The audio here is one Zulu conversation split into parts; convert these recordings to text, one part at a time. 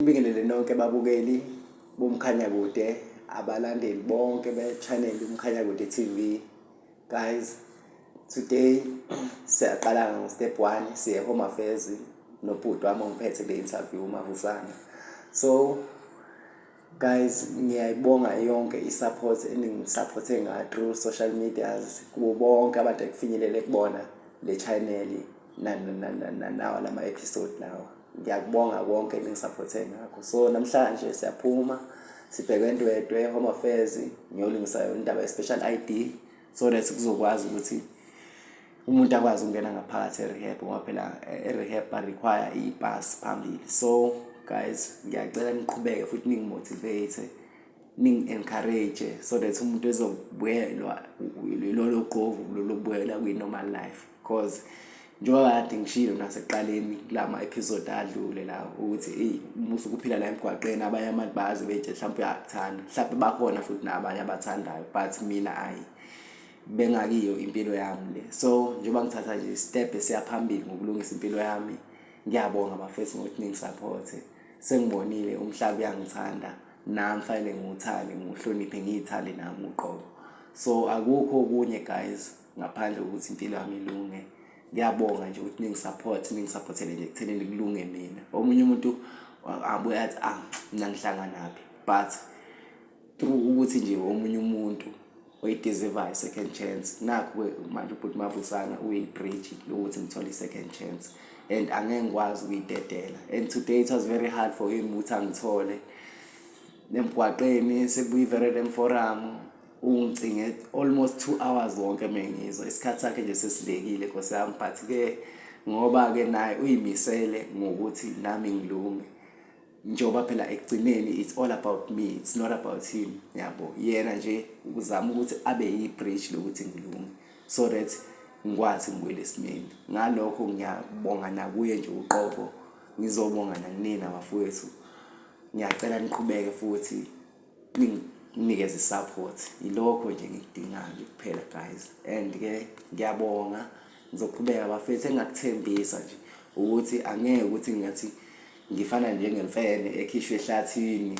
Ngibingelele nonke babukeli bomkhanyakude abalandeli bonke be-channel umkhanyakude TV guys today siyaqala ngo-step one siye home affairs nobhuti wami ongiphethe kule interview umavusana so guys ngiyayibonga yonke i-support eningisaphothe nga through social medias kubo bonke abantu ekufinyelele kubona le channel nanawa lama-episode lawa ngiyakubonga konke ningisaphothe ngakho so namhlanje siyaphuma sibheke entwetwe home affairs ngiyolungisa yona indaba ye-special i d so that kuzokwazi ukuthi umuntu akwazi ukungena ngaphakathi e-rehab ngoba phela eh, e-rehab ba-require i-pass phambili so guys ngiyacela niqhubeke futhi ningimotivate ningi-encourage so that umuntu ezobuyelwa lolo qovu lolobuyela kwi-normal life because njengoba kade ngishilo nasekuqaleni kula ma-episode adlule la ukuthi eyi uma usukuphila la emgwaqeni abanye abantu bazi beje mhlawumpe uyakuthanda mhlawumpe bakhona futhi nabanye abathandayo but mina ayi bengakiyo impilo yami le so njengoba ngithatha nje step esiyaphambili ngokulungisa impilo yami ngiyabonga bafethu ngokuthi ningisapothe sengibonile umhlaba uyangithanda nami fanele ngiwuthande ngiwuhloniphe ngiyithande nami uqobo so akukho okunye guys ngaphandle kokuthi impilo yami ilunge ngiyabonga nje ukuthi ningisupport ningisupportele nje ekuthenini kulunge mina omunye umuntu abuye athi ah mina ngihlanganaphi but through ukuthi nje omunye umuntu uyideserve i-second chance nakho-ke manje ubhuti mavusana uyi-bridge lokuthi ngithole i-second chance and angeke ngikwazi ukuyidedela and today it was very hard for him ukuthi angithole emgwaqeni sekuyiverele lemforamu ungicinge almost two hours wonke mengizwa isikhathi sakhe nje sesilekile nkosi yami but-ke ngoba-ke naye uyimisele ngokuthi nami ngilunge njengoba phela ekugcineni it's all about me it's not about him yabo yena nje ukuzama ukuthi abe yi-bridge lokuthi ngilunge so that ngikwazi ngibuyele esimeni ngalokho ngiyabonga nakuye nje uqobo ngizobonga nakunina bafowethu ngiyacela niqhubeke futhi nginikeze support ilokho nje ngikudingayo nje kuphela guys and ke ngiyabonga ngizoqhubeka bafethu engakuthembisa nje ukuthi angeke ukuthi ngathi ngifana njengemfene ekhishwe ehlathini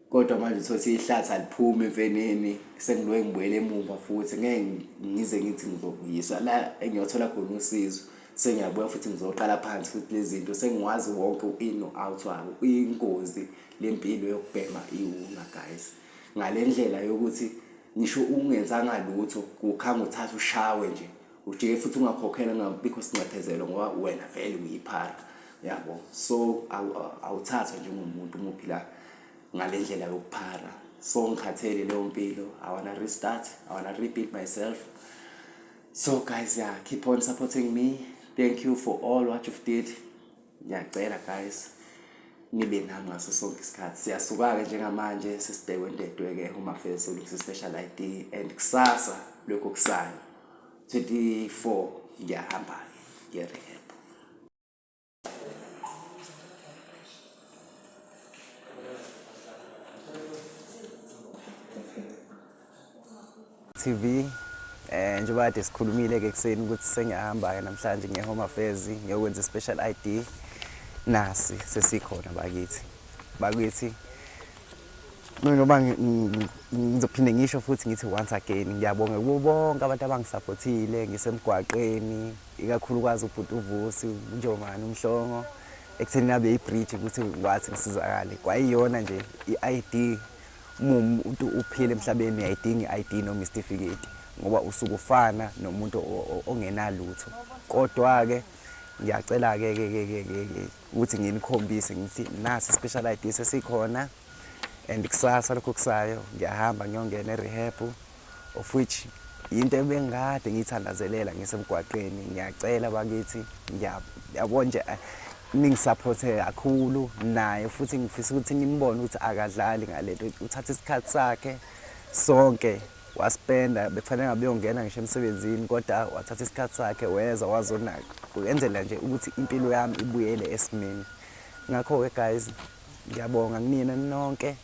kodwa manje uthothi ihlathi aliphumi emfeneni sengiloye ngibuyele emuva futhi ngeke ngize ngithi ngizobuyiswa la engiyothola khona usizo sengiyabuya futhi ngizoqala phansi futhi lezi zinto sengiwazi wonke u-in no-out wabo uyingozi lempilo yokubhema iwuna guys ngalendlela yokuthi ngisho ungenzanga lutho kukhanga uthatha ushawe nje ujike futhi ungakhokhela ngabikho sinxephezelo ngoba wena vele uyiphara yabo so awuthathwa njengomuntu uma uphila ngale ndlela yokuphara so ngikhathele leyo mpilo i wanna restart i wanna rebuild myself so guys yeah keep on supporting me thank you for all what you've did ngiyacela guys nibe nami ngaso sonke isikhathi siyasuka-ke njengamanje sesibhekwe ndedwe-ke umafesi olungisa i-special i d and kusasa lokhu kusayo 24 ngiyahamba-ke ngiyereheb TV eh njengoba kade sikhulumile ke kuseni ukuthi sengiyahamba ke namhlanje ngiye home affairs ngiyokwenza special ID nasi sesikhona bakithi bakithi njengoba ngizophinde ngisho futhi ngithi once again ngiyabonga kubo bonke abantu abangisaphothile ngisemgwaqeni ikakhulukazi ubhuti uvusi unjomani umhlongo ekutheni nabe ibridge ukuthi ngikwazi ngisizakale kwayiyona nje i-id Uma umuntu uphila emhlabeni uyayidinga i-ID noma isitifiketi ngoba usuke ufana nomuntu ongenalutho. Kodwa-ke ngiyacela-ke ke ke ke ke ke ukuthi nginikhombise ngithi nasi special ID sesikhona and kusasa lokho kusayo ngiyahamba ngiyongena e-rehab of which yinto ebengikade ngiyithandazelela ngisemgwaqeni ngiyacela bakithi ngiyabo nje eh, ningisaphothe kakhulu naye futhi ngifisa ukuthi nimbone ukuthi akadlali ngalento uthatha isikhathi sakhe sonke waspenda bekufanele ngabe uyongena ngisho emsebenzini kodwa wathatha isikhathi sakhe weza wazonaka kuyenzela nje ukuthi impilo yami ibuyele esimeni ngakho-ke guys Ngiyabonga kunina nonke.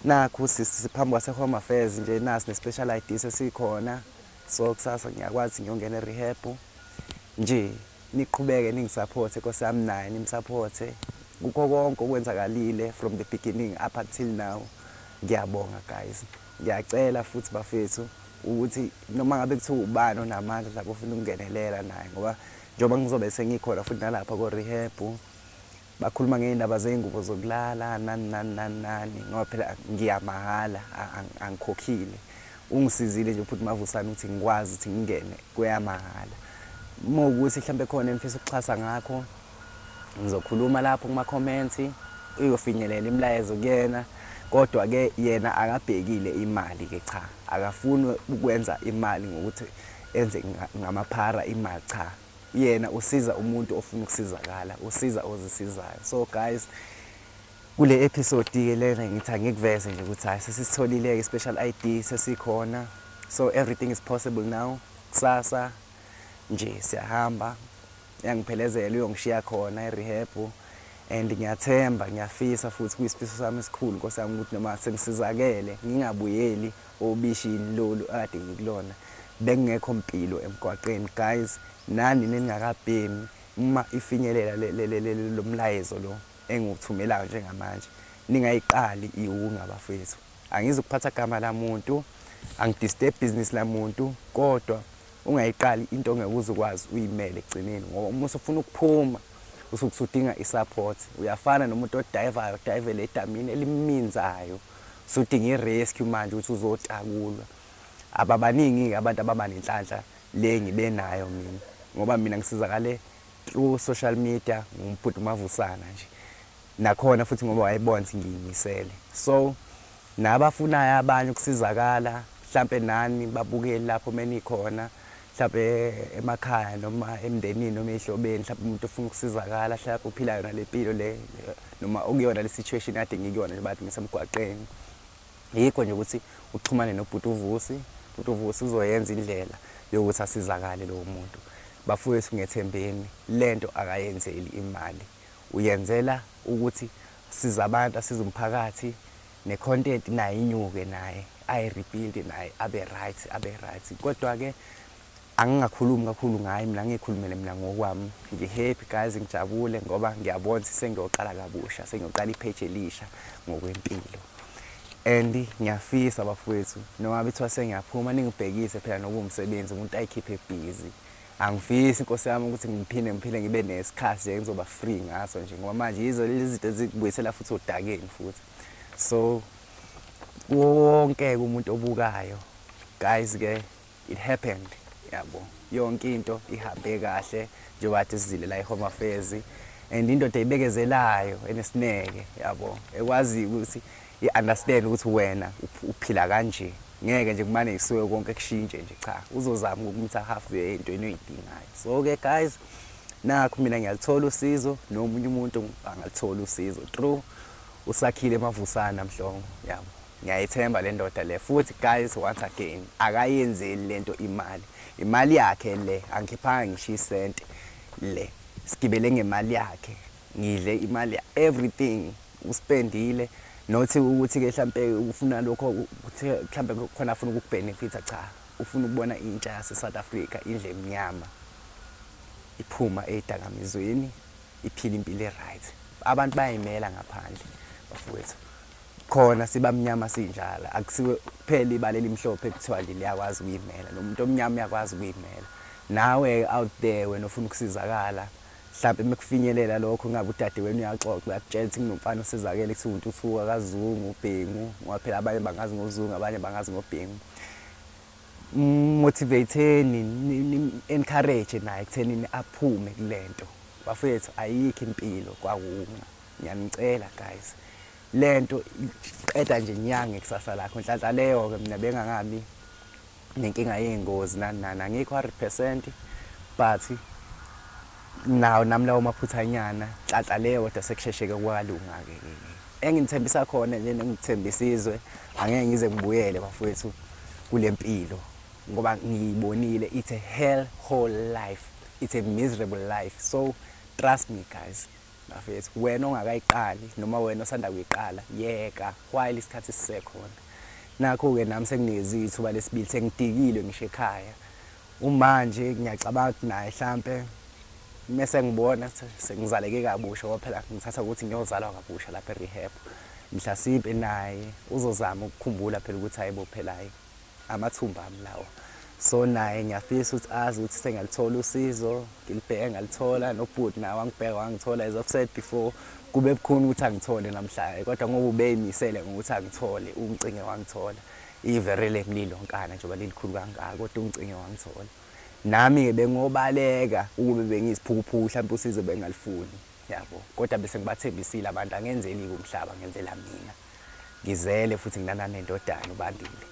Nakhu sisi siphambi kwase Home Affairs nje nasi ne special ID sesikhona. So kusasa ngiyakwazi ngiyongena rehab. Nje niqhubeke ningisupporte Nkosi yami naye nimsupporte. Kukho konke okwenzakalile from the beginning up until now. Ngiyabonga guys. Ngiyacela futhi bafethu ukuthi noma ngabe kuthiwa ubani onamandla mhlawumbe ofuna ukungenelela naye ngoba njengoba ngizobe sengikhona futhi nalapha ko rehab Bakhuluma ngey'ndaba zey'ngubo zokulala nani nani nani nani ngoba phela ngiya mahhala angikhokhile. Ungisizile nje uphuthu Mavusane ukuthi ngikwazi ukuthi ngingene kweyamahhala. Uma ukuthi mhlawumbe khona engifisa ukuxhasa ngakho ngizokhuluma lapho kumakhomenti uyofinyelela imilayezo kuyena kodwa ke yena akabhekile imali ke cha akafuni ukwenza imali ngokuthi enze ngamaphara imali cha yena usiza umuntu ofuna ukusizakala usiza ozisizayo so guys kule episode ke lena ngithi angikuveze nje ukuthi hayi sesisitholile ke special ID sesikhona so everything is possible now kusasa nje siyahamba yangiphelezela uyongishiya khona erehab and ngiyathemba ngiyafisa futhi kuyisifiso sami esikhulu nkosi yami ukuthi noma sengisizakele ngingabuyeli Ubishi yini lolu akade ngikulona bekungekho mpilo emgwaqeni guys nani ningakabhemi uma ifinyelela lomlayezo lo engiwuthumelayo njengamanje ningayiqali iwunga bafethu angizukuphatha gama lamuntu angidisturb business lamuntu kodwa ungayiqali into ongeke uzukwazi uyimele ekugcineni ngoba uma usufuna ukuphuma usuke usudinga isupport uyafana nomuntu odivayo odivele edamini eliminzayo Sudinga irescue manje ukuthi uzotakulwa. Ababaningi-ke abantu ababa nenhlanhla le engibenayo mina ngoba mina ngisizakale through social media ngubhuti uMavusana nje. Nakhona futhi ngoba wayebona ukuthi ngiyimisele. So nabafunayo abanye ukusizakala hlampe nani babukeli lapho menikhona mhlawumbe emakhaya noma emndenini noma ezihlobeni mhlawumbe umuntu ufuna ukusizakala mhlawumbe uphila yona le mpilo le noma okuyona le situation kade ngikuyona nje bathi ngisemgwaqeni yikho nje ukuthi uxhumane nobhuti uvusi bhuti uvusi uzoyenza indlela yokuthi asizakale lowo muntu bafowethu ngethembeni lento akayenzeli imali uyenzela ukuthi siza abantu asiza umphakathi ne content naye inyuke naye ayi rebuild naye abe right abe right kodwa ke angingakhulumi kakhulu ngaye mina ngikhulumele mina ngokwami ngihappy guys ngijabule ngoba ngiyabona ukuthi sengiyoqala kabusha sengiyoqala ipage elisha ngokwempilo and ngiyafisa bafowethu noma bethiwa sengiyaphuma ningibhekise phela nokuwumsebenzi umuntu ayikhiphe busy Angifisi Nkosi yami ukuthi ngiphinde ngiphile ngibe nesikhathi nje engizoba free ngaso nje ngoba manje yizo lezi zinto ezikubuyisela futhi odakeni futhi so wonke umuntu obukayo guys ke it happened yabo yonke into ihambe kahle njengoba athi sizile la eHome Affairs and indoda eyibekezelayo enesineke yabo ekwazi ukuthi I understand ukuthi wena uphila kanje. Ngeke nje kumane ngisuke konke kushintshe nje cha. Uzozama ukumtha half the entweni oyidingayo. So ke guys nakho mina ngiyalithola usizo nomunye umuntu angalithola usizo. True. Usakhile emavusana mhlongo. Yabo. Ngiyayithemba le ndoda le futhi guys once again akayenzeli lento imali. Imali yakhe le angikhiphanga ngisho isente le. Sigibele ngemali yakhe. Ngidle imali ya everything uspendile not ukuthi ke hlampe ufuna lokho ukuthi hlampe khona afuna ukukubenefita cha ufuna ukubona intsha yase South Africa indle emnyama iphuma ezidakamizweni iphila impilo eright abantu bayayimela ngaphandle bafowethu khona sibamnyama sinjalo akusiwe kuphela ibala elimhlophe kuthiwa nje liyakwazi ukuyimela nomuntu omnyama uyakwazi ukuyimela nawe out there wena ufuna ukusizakala Mhlampe mekufinyelela lokho ngabe udade wenu uyaxoxa uyakutshela ukuthi kunomfana osizakele kuthiwa untuthuka kazungu ubhengu ngoba phela abanye bangazi ngozungu abanye bangazi ngobhengu motivateni encourage naye kutheni aphume kulento bafethu ayikho impilo kwawunqa ngiyanicela guys lento qeda nje nyange kusasa lakho nhlanhla leyo ke mina bengangami nenkinga yey'ngozi nani nani angikho hundred percent but nawo nami lawo maphuthanyana xaxa leyo kodwa sekushesheke kwalunga-ke engithembisa khona nje nengithembisa izwe angeke ngize ngibuyele bafowethu kule mpilo ngoba ngiyibonile it's a hell whole life it's a miserable life so trust me guys Bafethu wena ongakayiqali noma wena osanda kuyiqala yeka while isikhathi sisekhona. Nakho ke nami senginikezile ithuba lesibili sengidikilwe ngisho ekhaya. Umanje ngiyacabanga ukuthi naye hlampe mese ngibona sengizaleke kabusha ngoba phela ngithatha ukuthi ngiyozalwa kabusha lapha eRehab. Mhlasimpe naye uzozama ukukhumbula phela ukuthi hayibo phela hayi amathumba ami lawo so naye ngiyafisa ukuthi azi ukuthi sengalithola usizo ngilibheke ngalithola nobhuti nawo angibheka wangithola as i've said before kube bukhuni ukuthi angithole namhlanje kodwa ngoba ubeyimisele ngokuthi angithole ungicinge wangithola ivere lemlilo nkana njengoba lilikhulu kangaka kodwa ungicinge wangithola nami-ke bengobaleka ukube bengiyisiphukuphuku mhlawumbe usizo bengalifuni yabo kodwa bese ngibathembisile abantu angenzeli-ke umhlaba ngenzela mina Ngizele futhi nginana nendodana uBandile.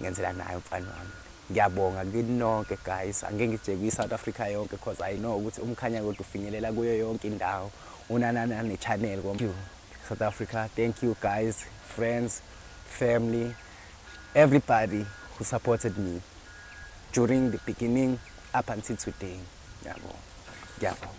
Ngenzela naye umfana wami. Ngiyabonga kini nonke guys. Angeke ngije kwi South Africa yonke because I know ukuthi umkhanya kodwa ufinyelela kuyo yonke indawo. Unanana ne channel kom. South Africa. Thank you guys, friends, family, everybody who supported me during the beginning up until today. Ngiyabonga. Ngiyabonga.